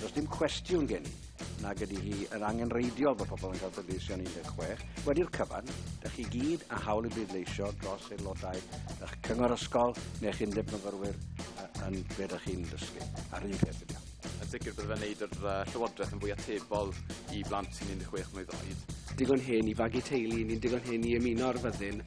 Does dim cwestiwn gen i nag ydy hi yn angenreidiol bod pobl yn cael pleidleisio yn 16. Wedi'r cyfan, dych chi gyd a hawl i bleidleisio dros aelodau eich cyngor ysgol neu'ch undeb myfyrwyr yn be dych chi'n dysgu. A'r un peth ydy Yn sicr bydd fe'n wneud yr uh, llywodraeth yn fwy atebol i blant sy'n 16 mlynedd oed. Digon hen i fagu teulu, ni'n digon hen i ymuno ar fyddin.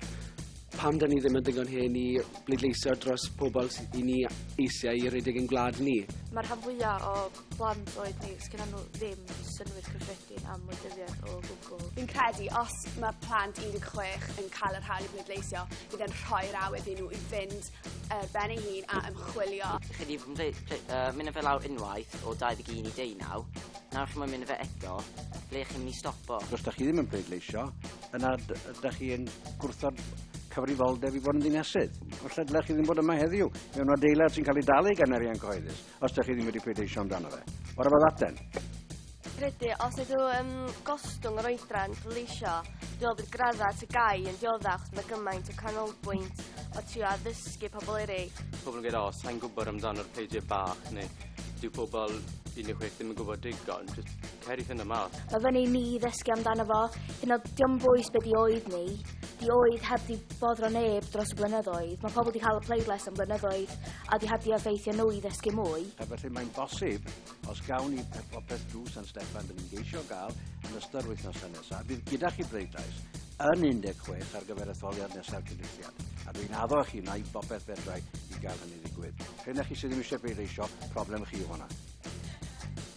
Pam dan ni ddim yn ddigon hen i bleidleisio dros pobl sy- i ni eisiau i redeg ein gwlad ni? Mae'r rhan fwyaf o blant oed ni, sgynnon nhw ddim synnwyr cyffredin am wleidyddiaeth o gwbl. Fi'n credu os mae plant 16 yn cael yr hawl i bleidleisio, bydd e'n rhoi'r awydd i nhw i fynd ar ben ei hun a ymchwilio. Chi 'di ble- ble- yy mynd â fe lawr unwaith o 21 i 19, nawr chi moyn mynd â fe eto, ble chi'n mynd i stopo? Os 'dach chi ddim yn pleidleisio, Yna ydych chi yn gwrthod cyfrifoldeb i fod yn ddinasydd. Felly dylech chi ddim bod yma heddiw mewn adeilad sy'n cael ei dalu gan arian cyhoeddus, os ydych chi ddim wedi pleidleisio amdano fe. What about that then? Credu, os ydw yn gostwng yr oedran pleidleisio, dwi'n meddwl bod gradda at y gai yn diodda achos mae gymaint o canolbwynt o trio addysgu pobl eraill. Pobl yn gweud, o, sa'n gwybod amdano'r pleidiau bach, neu dyw pobl 16 ddim yn gwybod digon. Cerith yn y marc. Mae fy ni i ddysgu amdano fo. Hyn o, diom bwys be di oed ni. Di oed heb di boddro neb dros y blynyddoedd. Mae pobl di cael y pleidlais am blynyddoedd a di heb di effeithio nhw i ddysgu mwy. A felly mae'n bosib, os gawn ni popeth drwy San Steffan, dyn ni'n geisio gael yn ystod yr wythnosau nesaf, bydd gyda chi bleidlais yn 16 ar gyfer etholiad nesaf cynulliad. A dwi'n addo chi na i bopeth fedrai i gael hynny ddigwydd. Rhena chi sydd ddim eisiau bleidleisio, problem chi yw hwnna.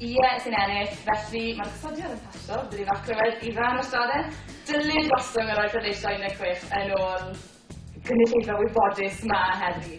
Ie, sy'n ennill. Felly, mae'r gosodiad yn pasio, bydd hi'n acro wedyn i Fân a Straden. Dylid gostwng yr oedd pleidleisio 16 yn ôl y cynulleidfa wybodus 'ma heddi.